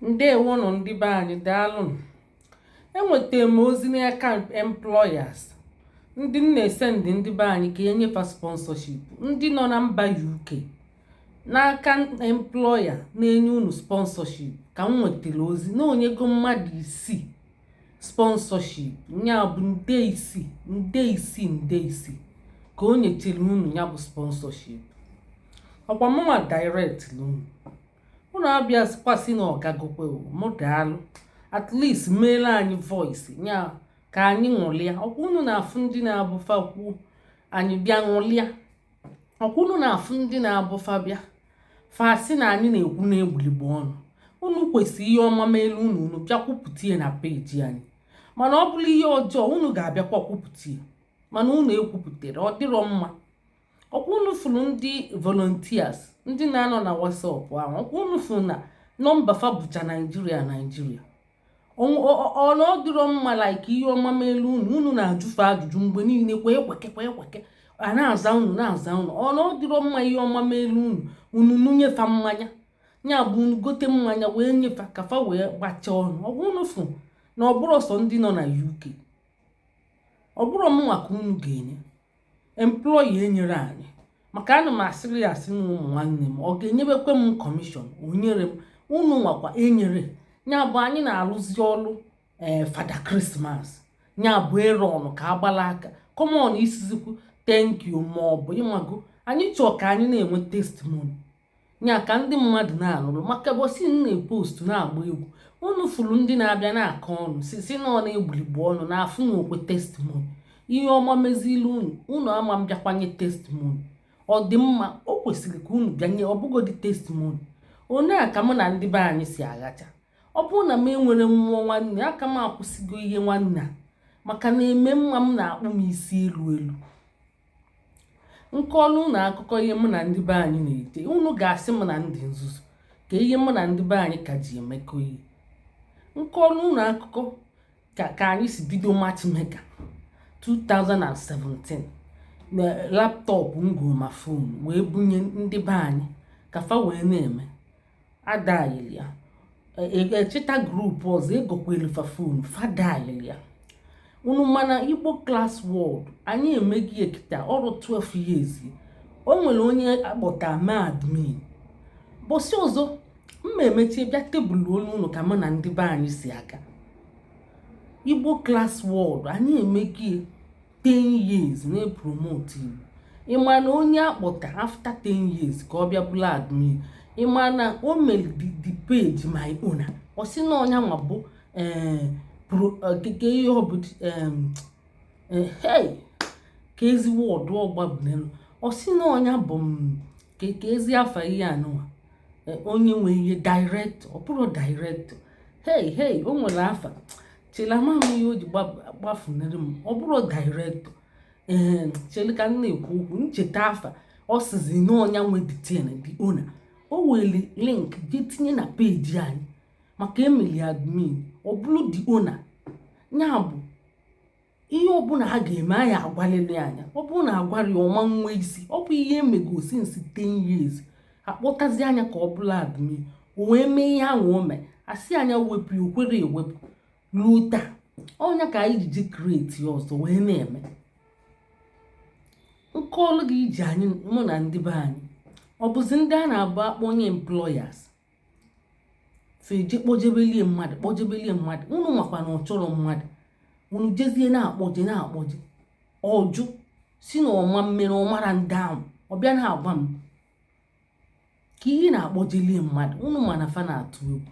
ndewonụ ndị be anyị daalụ enwetara m ozi n'aka employers ndị m na-esendị ndị be anyị ka e nye fa sponsorship ndị nọ na mba UK n'aka employer na-enye unu sponsorship ka m nwetara ozi na o nyego mmadụ isii sponsorship nya bụ nde isii nde isii nde isii ka o nyechere unu nya bụ sponsorship ọkwa mụnwa direct unu unu abịakwa sị na ọ gagokwa mụ daalụ at least meelụ anyị voice nya ka anyị ṅụlịa ọkwa unu na-afụ ndị na-abụ fa kwuo anyị bịa ṅụlịa ọkwa unu na-afụ ndị na-abụ fa bịa fa sị na anyị na-ekwu na-egbuligbo ọnụ unu kwesịrị ihe ọma meelu unu unu bịa kwupụta ya na peji anyị mana ọ bụrụ ihe ọjọọ unu ga-abịakwa kwupụta ya mana unu ekwupụtarọ ọ dịrọ mma ọkwa unu fụrụ ndị volunteers ndị na-anọ na WhatsApp ahụ ọkwa unu fụrụ na nọmba fa bụcha naijiria naijiria ọ na ọ dịrọ mma like ihe ọma meelu unu unu na-ajụ fa ajụjụ mgbe niile kwee kweke kwee kweke a na-aza unu na-aza unu ọ na ọ dịrọ mma ihe ọma meelu unu unu nunye fa mmanya nya bụ unu gote mmanya wee nye fa ka fa wee gbachaa ọnụ ọkwa unu fụ na ọ bụrọ sọ ndị nọ na UK ọ bụrọ mụnwa ka unu ga-enye employer enyerọ anyị maka ana m asịrị ya asị na ụmụ nwanne m ọ ga-enyebukwa m commission o nyerọ m unu nwakwa enyerọ nya bụ anyị na-alụzi ọlụ ee eh, father christmas nya bụ ịrụ ọnụ ka agbala aka common ịsịzikwu thank you ma ọ bụ ị mago anyị chọọ ka anyị na-enwe testimony nya ka ndị mmadụ na-anụrụ maka ụbọsị m na-epostu na-agba egwu unu fụrụ ndị na-abịa na-akọ ọnụ sị na ọ na-egbuligbu ọnụ na afụ na okwe testimony ihe ọma mezilu unu unu ama bịakwa nye testimony ọ dị mma o kwesịrị ka unu bịa nye ọ bụgodị testimony ọ nya ka mụ na ndị be anyị si aghacha ọ bụrụ na m enwerọ mmụọ nwanne a ka m akwụsịgo ihe nwanne a maka na eme mma m na-akpụ m isi elu elu m kọọlụ unu akụkọ ihe mụ na ndị be anyị na-ete unu ga-asị m na m dị nzuzu ka ihe mụ na ndị be anyị ka ji emekọ ihe m kọọlụ unu akụkọ ka ka anyị si bido matchmaker 2017 na laptop m goo ma phone wee bunye ndị be anyị ka fa wee na-eme adaghịlị ya echeta e, e, group ọzọ egokwalụ fa phone fa daghịlị ya unu ma na Igbo Class World anyị emego ya kịta o ruo 12 years o nwere onye a kpọta ma admin ụbọsị ọzọ mma emechie bịa table olu ụlọ ka mụ na ndị be anyị si aga Igbo Class World anyị emego ya 10 years na-epromote Igbo ị ma na onye a kpọta after 10 years ka ọ bịa bụrụ admin ị ma na o mere the page main owner ọ sị na ọ nya nwa bụ eh, okike eh, ihe ọ bụ eh, kezi word ọ gbafunarị ọ sị na ọ nya bụ mm, kezi afa ihe anụwa onye nwe ihe director ọ bụrọ director hey hey o nwere afa chele ama m ihe o ji gbafunarị m ọ bụrọ director ee chele ka m na-ekwu okwu m cheta afa ọ sịzi na ọ nya nwe the thing the owner o weli link jee tinye na page anyị maka e meli admin ọ bụrụ the owner nya bụ ihe ọbụla a ga-eme a ya-agwalịlị nya ọ bụrụ na a gwarọ ya ọ ma nwe isi ọ bụ ihe emego since 10 years a kpọtazia nya ka ọ bụlụ admin o wee mee ihe ahụ o mee a sị nya wepụ ya o kwerọ ewepụ ruo taa ọ nya ka anyị ji create ọzọ wee na-eme nke ọlụ gị iji anyị mụ na ndị be anyị ọ bụzi ndị a na-abụ a kpọ onye employers fa eje kpọjebelie mmadụ kpọjebelie mmadụ unu makwa na ọ chọrọ mmadụ unu jezie na-akpọje na-akpọje ọ jụ sị na ọ ma mmere ọ mara ndị ahụ ọ bịa na-agwa m ka ihe na-akpọjelie mmadụ unu ma na fa na-atụ egwu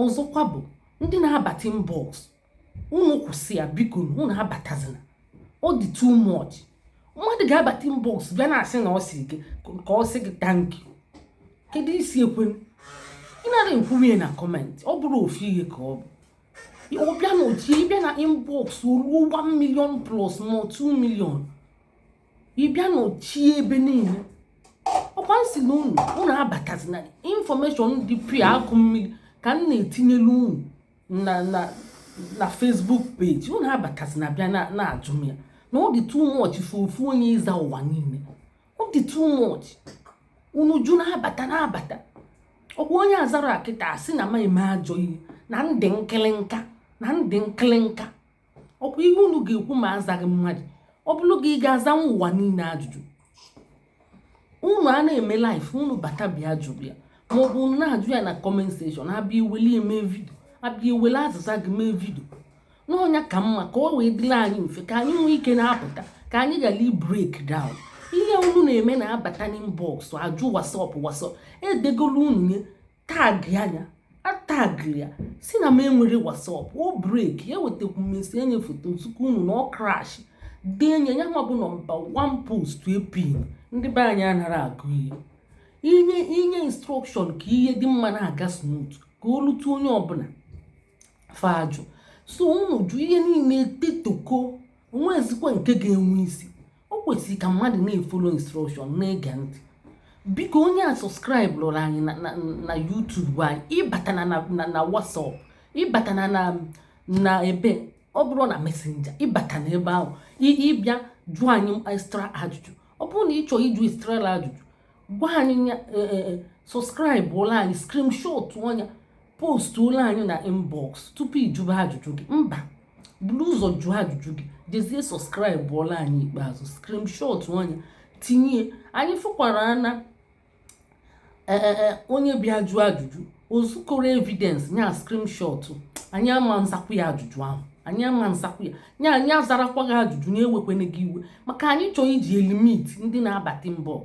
ọzọkwa bụ ndị na-abata inbox unu kwụsị ya biko unu abatazina ọ dị too much mmadụ ga-abata inbox bịa na-asị na ọ sị gị ka ọ sị gị thank you kedu isi ekwe ị nara ekwuwe na comment ọ bụrụ ofu ihe ka ọ bụ ọ bịa nọchie ị bịa na inbox ruo 1 million plus ma 2 million ị bịa nọchie ebe niile ọ kwa m sị na unu unu abatazina information dị pịa akụ mmiri ka m na-etinyelu unu na na na Facebook page unu abatazina bịa na-ajụ m ya na ọ dị too much for ofu onye ịza ụwa niile ọ dị too much unu ju na-abata na-abata ọ kwa onye a zarọ kịta a sị na m na-eme ajọ ihe na m dị nkịlịnka na m dị nkịlịnka ọ kwa ihe unu ga-ekwu ma azaghị mmadụ ọ bụrụ gị ị ga-azanwu ụwa niile ajụjụ unu a na-eme live unu bata bịa jụrụ ya maọbụ unu na-ajụ ya na comment section a bịa weli ya mee vidio a bịa wele azịza gị mee vidio na ọ nya ka mma ka ọ wee dịrị anyị mfe ka anyị nwee ike na-apụta ka anyị ghara ibreak down ihe unu na-eme na-abata n'inbox ajụ WhatsApp WhatsApp edegolu unu nye tag ya anya atagiri ya si na m enwere WhatsApp o break ewetakwu m esi enye foto nzukọ unu na ọ crash dee nye ya nwa bụ nọmba 1 post e pin ndị be anyị anara agụ ihe inye instruction ka ihe dị mma na-aga smooth ka o lutu onye ọbụla fa ajụ so unu jụ ihe niile etetoko o nwezikwa nke ga-enwe isi o kwesịrị ka mmadụ na-efolo instruction na-ege ntị biko onye a subscribe lụrụ anyị na YouTube anyị ịbata na WhatsApp ịbata na ebe ọ bụrụ na Messenger ịbata na ebe ahụ ịbịa jụọ anyị extra ajụjụ ọ bụrụ na ị chọọ ịjụ extra ajụjụ gwa anyị e, e, e, subscribe ọlụ anyị screenshot ọ nya post ọlụ anyị na inbox tupu ịjụba ajụjụ gị mba buru ụzọ jụọ ajụjụ gị jezie subscribe ọlụ anyị ikpeazụ screenshot ọ nya tinye anyị fụkwara na e, e, e, onye bịa jụọ ajụjụ o zukọrọ evidence nya screenshot anyị ama nzakwu ya ajụjụ ahụ anyị ama nzakwu ya nya anyị azarakwa gị ajụjụ nya ewekwana gị iwe maka anyị chọọ iji elimit ndị na-abata inbox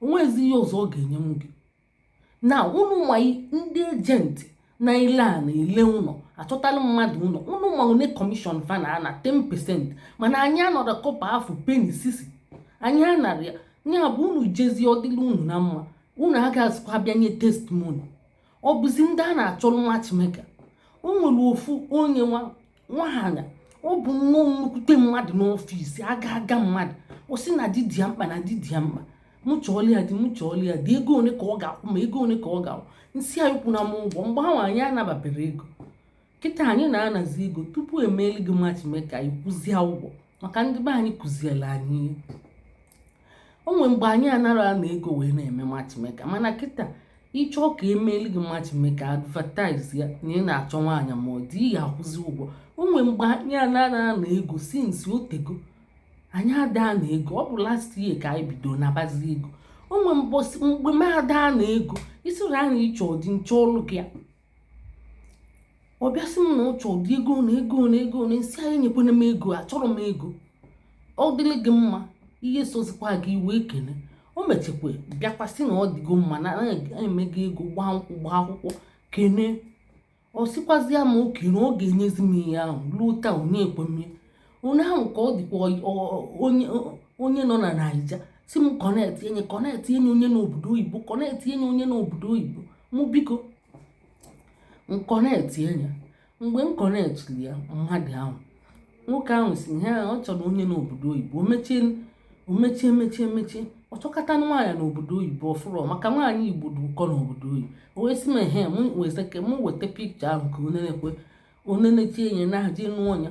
o nwezi ihe ọzọ ọ ga-enye m gị na unu ma ndị agent na-ele a na-ele ụlọ achọtala mmadụ ụlọ unu ma one commission fa na-ana 10 percent mana anyị anarọ kọpa afụ penny sisi anyị anara ya nya bụ unu jezie ọ dịlị unu na mma unu agazikwa bịa nye testimony ọ bụzi ndị a na-achọrọ matchmaker o nwere ofu onye nwa nwaanyị ọ bụ nnọọ nnukwute mmadụ n'office aga aga mmadụ ọ sị na di dị ya mkpa na di dị ya mkpa mụ chọọlụ ya di mụ chọọlụ ya di ego ole ka ọ ga-akwụ ma ego ole ka ọ ga-akwụ nsị ya akwụna m ụgwọ mgbe ahụ anyị anababere ego kịta anyị na-anazi ego tupu emeeli gị matchmaker ị kwụzie ụgwọ maka ndị be anyị kụziela anyị o nwere mgbe anyị anara ana ego wee na-eme matchmaker mana kịta ịchọọ ka emeeli gị matchmaker advertise ya na ị na-achọ nwaanyị ma ọ di ị ga-akwụzi ụgwọ o nwere mgbe anyị anara ana ego since o tego anyị ada ana ego ọ bụ last year ka anyị bido nabazi ego o nwere mgbe m ada ana ego isiri anyị ịchọ di nchọọlụ gị ya ọ bịa sị m na ọ chọ di ego one ego one ego one nsị ya enyekwana m ego achọrọ m ego ọ dịrị gị mma ihe sozikwa gị i wee kene o mechekwa bịakwasị na ọ dịgo mma na emego ego gbaa nkwụ gbaa akwụkwọ kene ọ sịkwazịa m okay na ọ ga-enyezi m ihe ahụ ruo taa o nyekwọ m onye ahụ ka ọ dịkwa onye nọ na naija sị m kọnetị enye kọnetị enye onye n'obodo oyibo kọnetị enye onye n'obodo oyibo mụ biko m kọnetị enye mgbe m kọnetịrị ya mmadụ ahụ nwoke ahụ sị ihe ahụ ọ chọrọ onye n'obodo oyibo mechie o mechie mechie mechie ọ chọkata nwaanyị n'obodo oyibo ọ fụrọ maka nwaanyị igbo dị ụkọ n'obodo oyibo o wee sị m ehe m weta picture ahụ ka o nenekwe o nenechie enye na-ahaji nụ ọnya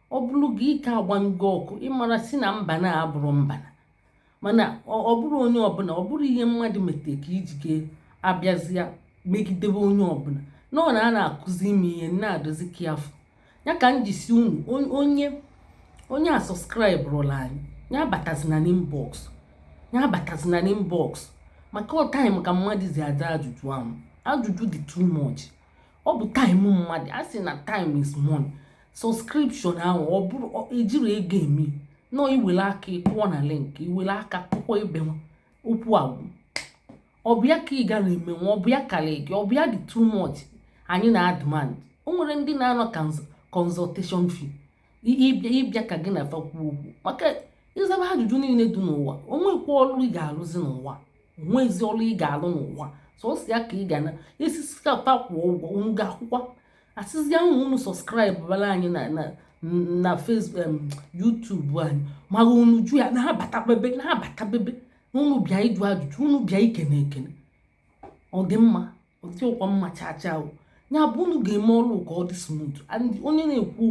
ọ bụrụ gị ike agba ngị ọkụ ị mara sị na mba na-abụrụ mba na mana ọ bụrụ onye ọbụla ọ bụrụ ihe mmadụ metere ka i ji ga-abịazi emegidebe onye ọbụla nọ na a na-akụzi ime ihe na-adozi ka afọ ya ka m ji sị unu onye onye asọskraịbụrọlụ anyị ya abatazina n'inbox ya abatazina n'inbox maka ọ time ka mmadụ ji aza ajụjụ ahụ ajụjụ dị too much ọ bụ time mmadụ a sị na time is money subscription ahụ ọ bụrụ ejirọ ego eme nọ i were aka ị kụọ na link i were aka kụkọ ebe nwa okwu agwụ ọ bụ ya ka ị gara emenwu ọ bụ ya karị gị ọ bụ ya dị too much anyị na-ademand o nwere ndị na-ana consultation fee ị bịa ka gị na fa kwuo okwu maka ị zaba ajụjụ niile dị n'ụwa o nwekwa ọrụ ị ga-arụzi n'ụwa o nwezi ọrụ ị ga-alụ n'ụwa sọsọ ya ka ị ga na isisikapa kwụọ ụgwọ unu ga-akwụkwa a sịzia unu subscribebara anyị na na na Facebook YouTube anyị mara unu jụ ya na-abatabebe na-abatabebe na unu bịa ịjụ ajụjụ unu bịa ikene ekene ọ dị mma ọ dịrọkwa mma chacha o ya bụ unu ga-eme ọrụ ka ọ dị smooth and onye na-ekwu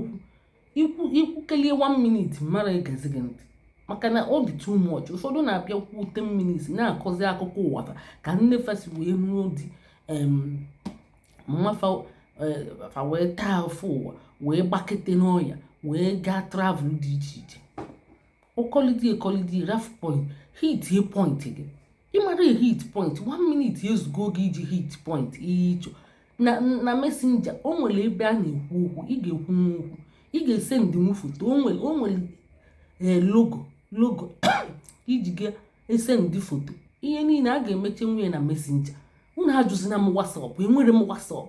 okwu i kwukelie 1 minute mara egezi gị ntị maka na ọ dị too much ụfọdụ na-abịa kwuo 10 minutes na-akọzi akụkọ ụwa ka nne fa si wee nụọ di mama e, fa wee taa afụfụ ụwa wee gbakete n'ọya wee gaa travel dị iche iche ọ kọlidi ekọlidi ref point hitie point gị ị mara hit point one minute ezugo gị iji hit point ihe ị chọ na na messenger o nwere ebe a na-ekwu okwu ị ga-ekwunwu okwu ị ga-esendịnwu foto o nwere o nwere eh, logo logo i ji ga-esendị foto ihe niile a ga-emechanwu nye na messenger unu ajụzina m WhatsApp enwere m WhatsApp